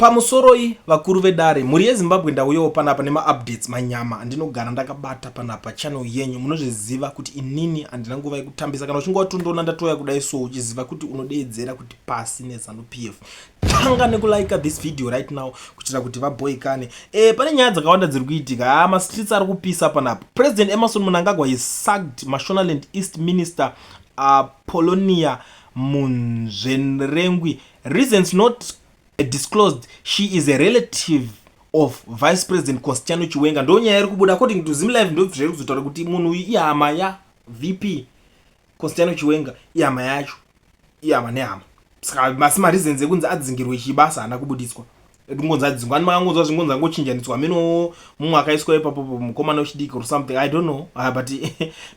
Pamusoroi vakuru vedare, mhuri yeZimbabwe ndauyawo panapa nemaupdates manyama andinogara ndakabata panapa channel yenyu munozviziva kuti inini handina nguva yekutambisa kana uchinge watondoona ndatouya kudai so uchiziva kuti unodeedzera kuti pasi nezanu pf tanga nekulike this video right now kuitira kuti vabhoikane e, pane nyaya dzakawanda dziri kuitika haa mastreets ari kupisa panapa president emerson munangagwa he sugged mashonaland east minister uh, polonia munzvenrengwi reasons not disclosed she is a relative of vice president constiano chiwenga ndo nyaya iri kubuda according to zim live ndozvairi kuzotaura kuti munhu uyu ihama ya vp constiano chiwenga ihama yacho ihama nehama saka masi mareasons ekunzi adzingirwe chibasa haana kubuditswa ekungonzi adzingwa ani makangonzwa zvingonzi angochinjaniswa ameno mumwe akaiswa ipapo mukomana wechidiki or something i don't know ah, but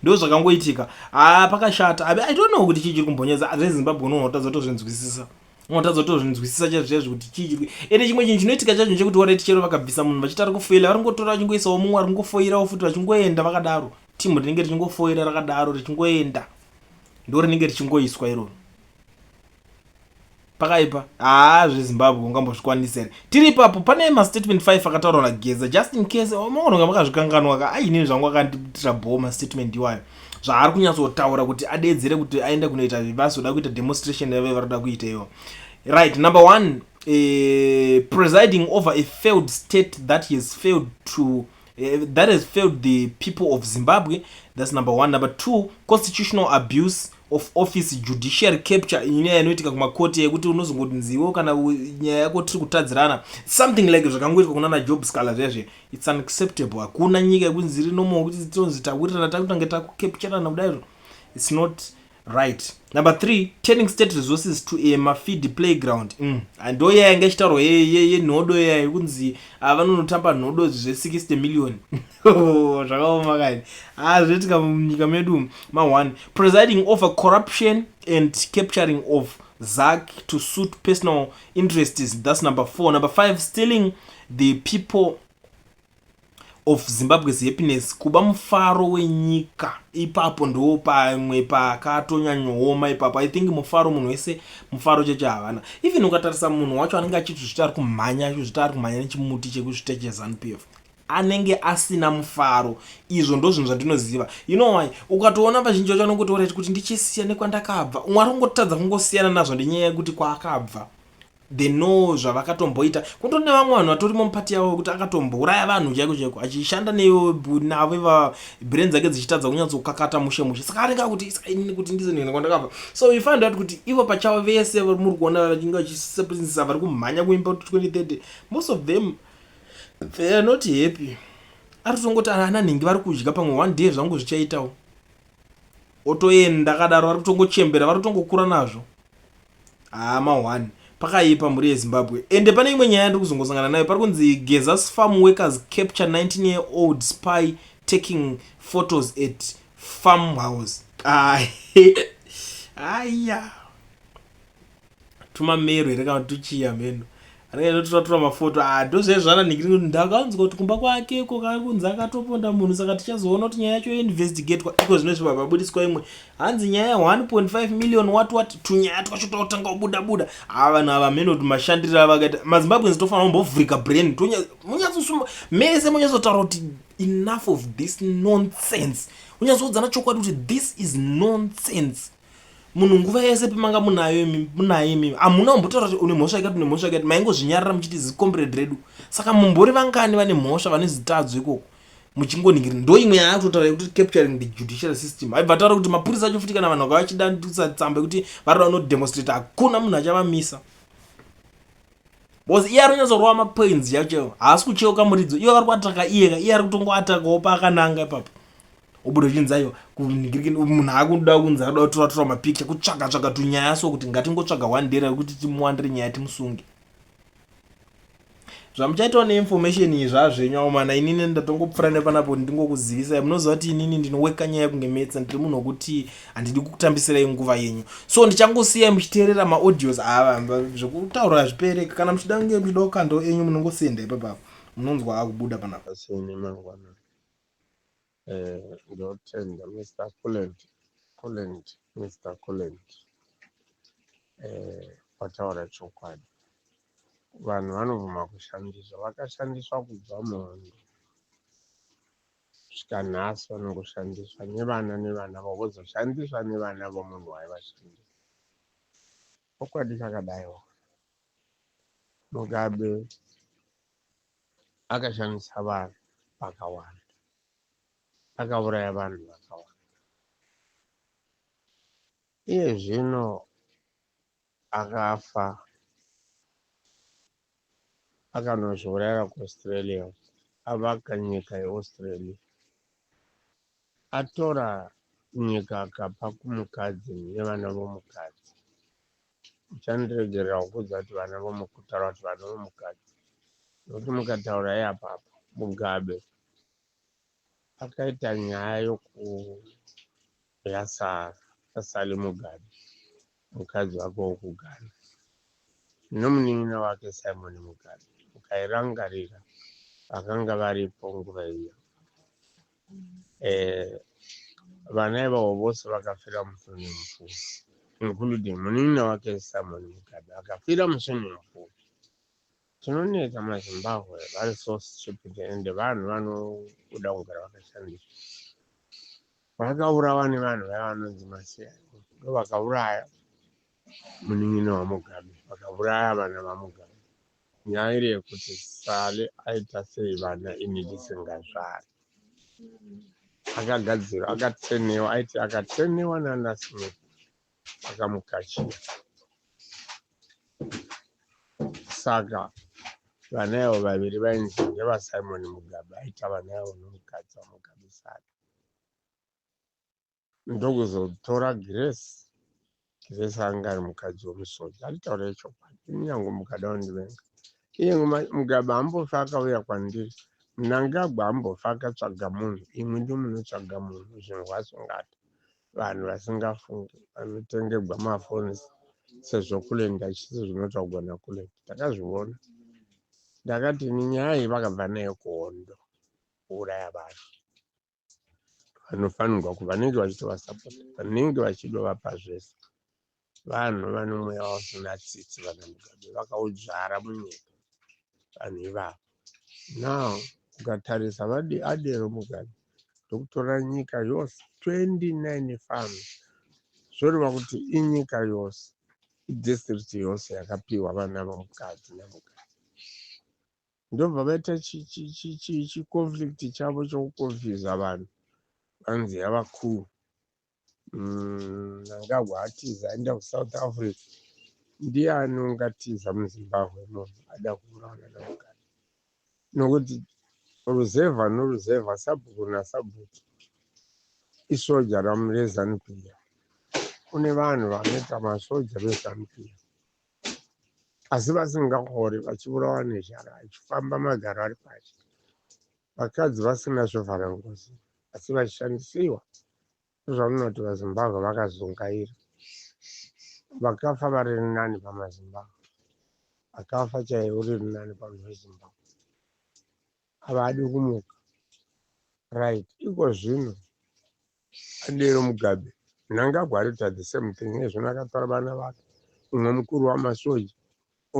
ndo zvakangoitika ah, pakashata i don't know kuti chii chiri kumbonyedza rezimbabwe unonotaza tozvinzwisisa unotadza kutozvinzwisisa chaizvo chaizvo kuti chii chiri ende chimwe chinhu chinoitika chacho chekuti wareti chero vakabvisa munhu vachiti ari kufoila vari kungotora vachingoisawo mumwe ari kungofoirawo futi vachingoenda vakadaro timu rinenge richingofoira rakadaro richingoenda ndo rinenge richingoiswa iroro pakaipa haa zvezimbabwe ungambozvikwanisa here tiri ipapo pane mastatement 5 akataurwa nageza just in case maononga makazvikanganwa ka ainini zvangu akandiitira bho mastatement iwayo zvaari kunyatsotaura kuti adeedzere kuti aende kunoita vivasi oda kuita demonstration yave varikuda kuita iyo right number one uh, presiding over a failed state that he has failed to uh, that has failed the people of zimbabwe that's number one number two constitutional abuse of office judiciary capture inyaya inoitika kumakoti yekuti unozongotinziwo kana nyaya yako tiri kutadzirana something like zvakangoitwa kunana job scaler zvezve It's unacceptable. Hakuna nyika yekunzi iri normal kuti tonzi tawirirana takutange takukepcherana kudaizvo. It's not right. Number 3, turning state resources to a mafeed playground. Mm. Ndo yaya yanga ichitaurwa yenhodo yaya yekunzi ah, vanonotamba nhodo zve 60 million. Oh, zvakaoma kani. Ah, zvetika munyika medu ma 1 presiding over corruption and capturing of Zach to suit personal interests. That's number four. Number five, stealing the people of zimbabwe's happiness kuba mufaro wenyika ipapo ndo pamwe pakatonyanyooma ipapo i think mufaro munhu wese mufaro cheche havana even ukatarisa munhu wacho anenge achitozvita ari kumhanya achizvita ari kumhanya nechimuti chekuzvita chezanup f anenge asina mufaro izvo ndo zvinhu zvandinoziva you know why ukatoona vazhinji vacho anongotoora ti kuti ndichisiya nekwandakabva mwari ungotadza kungosiyana nazvo ndenyaya yekuti kwaakabva They know zvavakatomboita kutori nevamwe vanhu vatorimo mupati yavo vekuti akatombouraya vanhu chaiko chaiko achishanda navo ivava brain dzake dzichitadza kunyatsokakata mushe mushe saka anenge akuti isainini kuti ndizonhena kwandakabva so you find out kuti ivo pachavo vese muri kuona vachinge vachiseprisisa vari kumhanya kuimba kuti 2030 most of them they are not happy ari kutongoti ana nhingi vari kudya pamwe one day zvangu zvichaitawo otoenda akadaro vari kutongochembera vari kutongokura nazvo Haa ma one pakaipa mhuri yezimbabwe ende pane imwe nyaya yandiri kuzongosangana nayo pari kunzi gezas farm workers capture 19 year old spy taking photos at farm house aya tumamero here kana tuchiya mheno anenge aitotoratora mafoto ah, ndozvaizvana ndingiri kuti ndakanzwa kuti kumba kwake iko kakunzi akatoponda munhu saka tichazoona kuti nyaya yacho yoinvestigatwa iko zvino zviva vabudiswa imwe hanzi nyaya ya 1.5 million wat wat tunyaya twacho twakutanga kubuda buda haa ah, vanhu ava mhene kuti mashandiriro avakaita mazimbabweans tofanira kumbovhurika brain munyatsosuma mese munyatsotaura kuti enough of this nonsense unyatsoudzana chokwadi kuti this is nonsense munhu nguva yese pemanga munayo munaye imimi hamuna kumbotaura kuti une mhosva yakati une mhosva yakati maingozvinyarira muchiti zicombrade redu saka mumbori vangani vane mhosva vane zitadzo ikoko muchingoningiri ndo imwe yaya kutotaura yekuti capturing the judicial system haibva taura kuti mapurisa acho futi kana vanhu vaka vachidandisa tsamba yekuti vari vano demonstrate hakuna munhu achavamisa bcause iye ari kunyatsorova mapoints yacho haasi kucheuka muridzo iye vari kuataka iyeka iye ari kutongoatakawo paakananga ipapo ubuda uchinzi aiwa kunhigirikini munhu akuda kunzi akuda kutora tora mapikicha kutsvaga tsvaga tunyaya so kuti ngatingotsvaga one day rekuti timuwandire nyaya timusunge zvamuchaitawo neinformation iyi zvazvenyu awo mana inini ndatongopfura nepanapo ndingokuzivisai munoziva kuti inini ndinoweka nyaya kunge metsa ndiri munhu wekuti handidi kukutambisirai nguva yenyu so ndichangosiyai muchiteerera maaudios ava zvekutaura hazvipereka kana muchida kunge muchida kukandao enyu munongosenda ipapapo munonzwa akubuda panapa Eh, ndotenda Mr. Kulent, Kulent, Mr. Kulent. Eh, wataura chokwadi. Vanhu vanobvuma kushandiswa, vakashandiswa kubva muhondo kusvika nhasi vanongoshandiswa nevana nevana vavo vozoshandiswa nevana vomunhu waivashandisa. Chokwadi chakadaiwo. Mugabe akashandisa vanhu vakawanda akauraya vanhu vakawanda iye zvino akafa akanozviurayira kuaustralia avaka nyika yeaustralia atora nyika akapa kumukadzi nevana vomukadzi Muchandiregerera kukuudza kuti vana vomukutaura kuti vana vomukadzi nokuti mukataura iapapa Mugabe akaita nyaya yokuyaSally Mugabe mukadzi wake wokuGhana nomunin'ina wake Simon Mugabe ukairangarira vakanga varipo nguva iyo. eh, vana ivavo vose vakafira muswimming pool including munin'ina wake simon mugabe akafira muswimming pool tinonetsa mazimbabwe vari so stupid and vanhu vanoda kugara vakashandiswa vakaurawa nevanhu vaya vanonzi masiyani ndo vakauraya munin'ina wamugabe vakauraya vana vamugabe Nyaya iri yekuti Sally aita sei vana ini ndisingazvari. Akagadzirwa, akatrainiwa, aiti akatrainiwa nana Smith akamukachira. Saka vana avo vaviri vainzi ndevaSimon Mugabe aita vana avo nomukadzi waMugabe Sally. ndokuzotora Grace Grace anga ari mukadzi wemusodzi anditaurire chokwadi kunyange mukada kundivenga iye mugaba ambofa akauya kwandiri munangagwa ambofa akatsvaga munhu imwe ndi munotsvaga munhu zvinhu vasungata vanhu vasingafungi vanotengegwa mafoni sezvo kulenda chisi zvinotaugwa nakulenda takazviona ndakati ninyaya iyi vakabva nayo kuhondo kuuraya vanhu vanofanirwa ku vanenge vachitovasapota vanenge vachidovapa zvese vanhu vane mweya wasina tsitsi vana mugabe vakaudzvara munyika vanhu ivavo now ukatarisa vadi adero mugabe ndokutora nyika yose 29 fam zvoreva kuti inyika yose idistrict yose yakapiwa vana vamukadzi namukadzi ndobva vaita chiconflict chavo chokuconfusa vanhu vanzi yava cool mnangagwa mm, atiza aenda kusouth africa ndiye anongatiza muzimbabwe munhu ada kuuraona namugari nokuti ruzevha noruzevha sabhuku nasabhuku isoja ramurezanupia kune vanhu vanoita masoja vezanupia asi vasingahori vachiburawa nezhara vachifamba magaro ari pashi vakadzi vasina zvovhara ngozi asi vachishandisiwa zvamunoti vazimbabwe vakazungaira vakafa vari nani pamazimbabwe akafa chaiye uri nani pamunhu wezimbabwe havadi kumuka right iko zvino adero mugabe mnangagwa arita the same thing nezvino akatora vana vake umwe mukuru wamasoja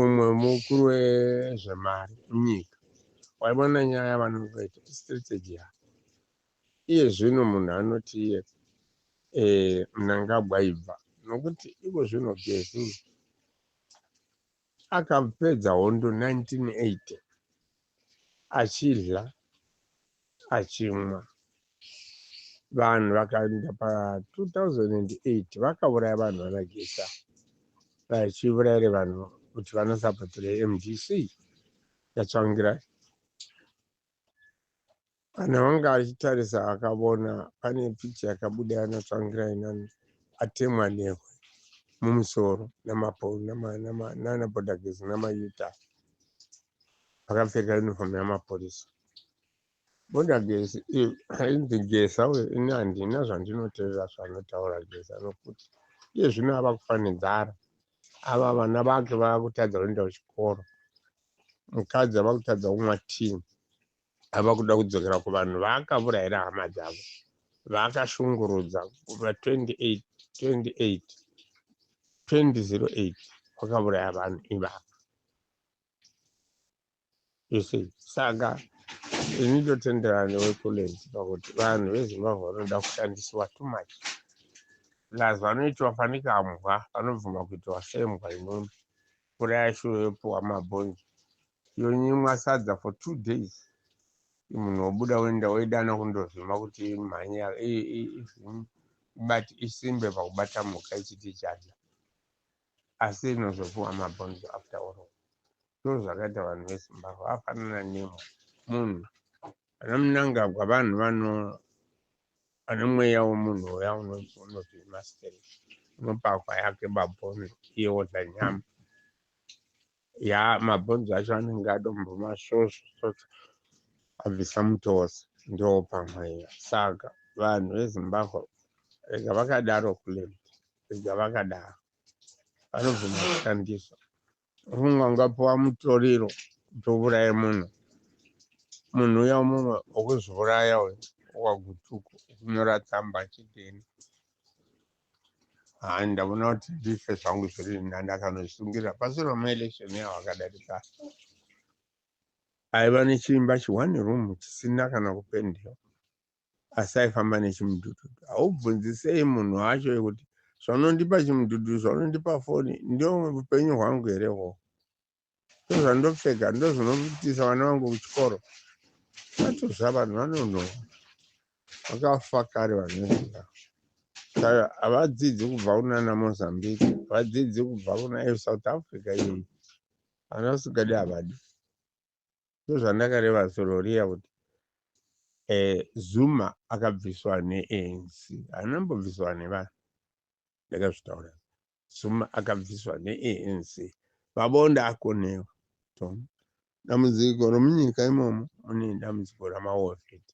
umwe mukuru wezvemari munyika waivona nyaya vanongoita strategy yavo iye zvino munhu anoti iye eh, mnangagwa ibva nokuti iko zvino gezini Akapedza hondo 1980 achidya achimwa. Vanhu vakaenda pa 2008 vakauraya vanhu vanagisa vachiuraira vanhu kuti vanosapotera mdc yatsvangirai. kana wanga achitarisa akavona pane picha yakabuda yanatsvangira inani atemwa nehwe mumusoro nanabodagezi namayuta akapfeka uniform yamapurisa boda gesi ainzi gesa uyo ini handina zvandinoteerera zvanotaura gesa nokuti iye zvino ava kufanidzara ava vana vake vava kutadza kuenda kuchikoro mukadzi ava kutadza kumwa tii ava kuda kudzokera kuvanhu vaakavurayira hama dzavo vaakashungurudza kubva 28 28 2008 vakavuraya vanhu ivava you see saka ini ndotenderana newekulens pakuti vanhu vezimbabwe vanoda kushandisiwa too much plus vanoitiwa fanika mbwa vanobvuma kuitiwa sembwa inoni mvura yashuyo yopiwa mabhonzo Yonyimwa sadza for two days. Munhu wobuda woenda woidana kundovhima kuti imhanye ibati isimbe pakubata mhuka ichiti ichadya. Asi inozopuwa mabhonzo after all. Ndozvakaita vanhu veZimbabwe vafanana nemwe munhu. Ana Mnangagwa vanhu vano ane mweya womunhu uya unoti master unopakwa yake babhono iye wodla nyama Yaa mabhonzo acho anenge adomboma svosvo abvisa mutosi ndiwo pamweya saka vanhu vezimbabwe rega vakadaro kulet rega vakadaro vanobvuma kushandiswa ufunga ungapiwa mutoriro kuti uvuraye munhu munhu uya mumwe ukuzviuraya uyu wagutuku ukunyora tsamba achidini haa ndavona kuti ndife zvangu zviri ndandakanozvitungirira pasure maelection yavo akadarika aiva nechiimba chione room chisina kana kupendewa asi aifamba nechimudududu haubvunzisei munhu wacho yekuti zvaunondipa chimudududu zvaunondipa foni ndio upenyu hwangu here hoo ndozvandopfeka ndozvinoitisa vana vangu kuchikoro vatozva vanhu vanonoo vakafa kare vanoenda saka havadzidzi kubva kunana mozambique havadzidzi kubva kuna south africa iyoyi vana vasikadi havadi ndozvandakareva sororiya kuti eh, zuma akabviswa neanc anambobviswa nevanhu ndakazvitaura Zuma akabviswa neANC. Pabonde akonewa. Tom. Dambudziko romunyika imomo mune dambudziko ramaovet.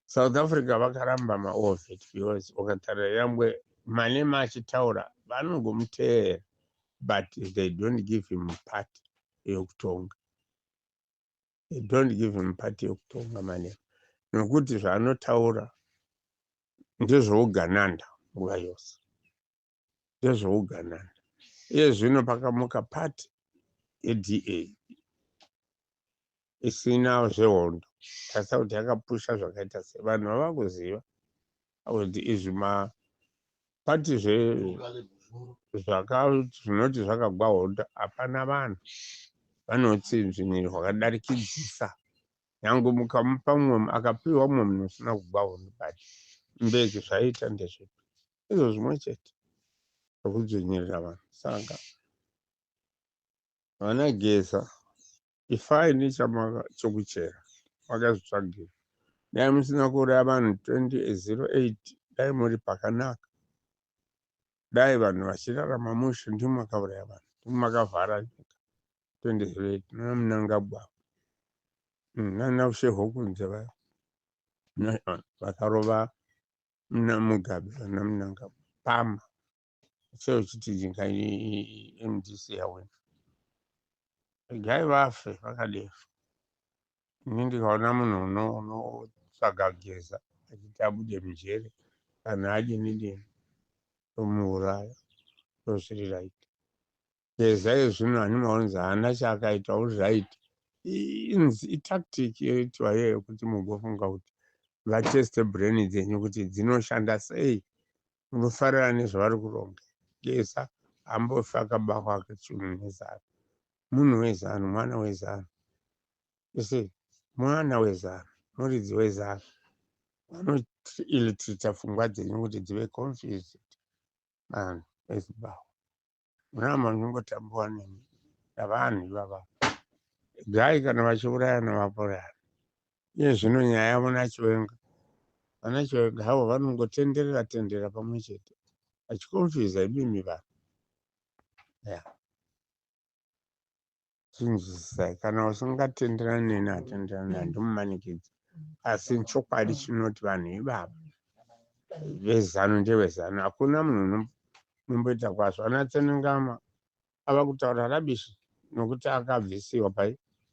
South Africa vakaramba maovet because ukatarira yangwe Malema achitaura vanongomuteerera but they don't give him part yokutonga. they don't give him party yekutonga mane nokuti zvaanotaura ndezvougananda nguva yose ndezvougananda iye zvino pakamuka party yeda isina zvehondo tasa kuti yakapusha zvakaita se vanhu vava kuziva kuti izvi mapati zve zvinoti zvakagwa hondo hapana vanhu vanotsinzviniri hwakadarikidzisa nyange mukamupa mumwe akapiwa mumwe munhu usina kugwa hondo but mbeki zvaiita ndezvipi izvo zvimwe chete zvekudzvinyirira vanhu saka vanageza ifai nechamaka chokuchera makazvitsvagira dai musina kuuraya vanhu 2008 dai muri pakanaka dai vanhu vachirarama mushe ndimo makauraya vanhu ndimo makavhara nyika 2008 nana munangagwa mm, nana usheho kunze vaya vakarova mugabe vana munangagwa pama sei uchiti jinga mdc yawina regai vafe vakadero ini ndikaona munhu unotsvaga geza achiti abude mujere kana adini dini tomuuraya ndozviri right Geza iye zvino ani maonzi haana chaakaita all right inzi itactic yoitwa iyoyo kuti mugofunga kuti vateste brain dzenyu kuti dzinoshanda sei munofarira nezvavari kuronga geza ambofi akabahwa akachunu nezano munhu wezano mwana wezano ese mwana wezano muridzi wezano vanoilitritsa pfungwa dzenyu kuti dzive confused vanhu ezibahwa Mama nongotambuwa nemi navanhu ivava gai kana vachiurayana vaporana iye zvino nyaya yavo nachiwenga vana chiwenga havo vanongotenderera tenderera pamwe chete vachikonfiza imimi vanhu yeah. chinzwisisai kana usingatenderani neni atenderani naye ndimumanikidzi asi chokwadi chinoti vanhu ivava vezano ndevezano hakuna munhu unomboita kwazvo ana tsenengama ava kutaura rabishi nokuti akabvisiwa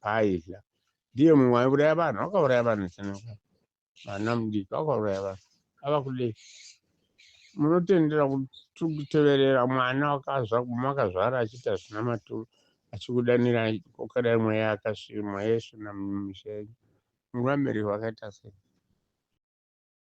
paaidya ndiye mumwe aiuraya vanhu akauraya vanhu tsenengama vana mudiki vakauraya vanhu ava kudei munotendera kuteverera mwana wakazva guma akazvara achiita zvina maturo achikudanira kokadai mweya akasvimwa yesu namumushenyu nguva miriho akaita sei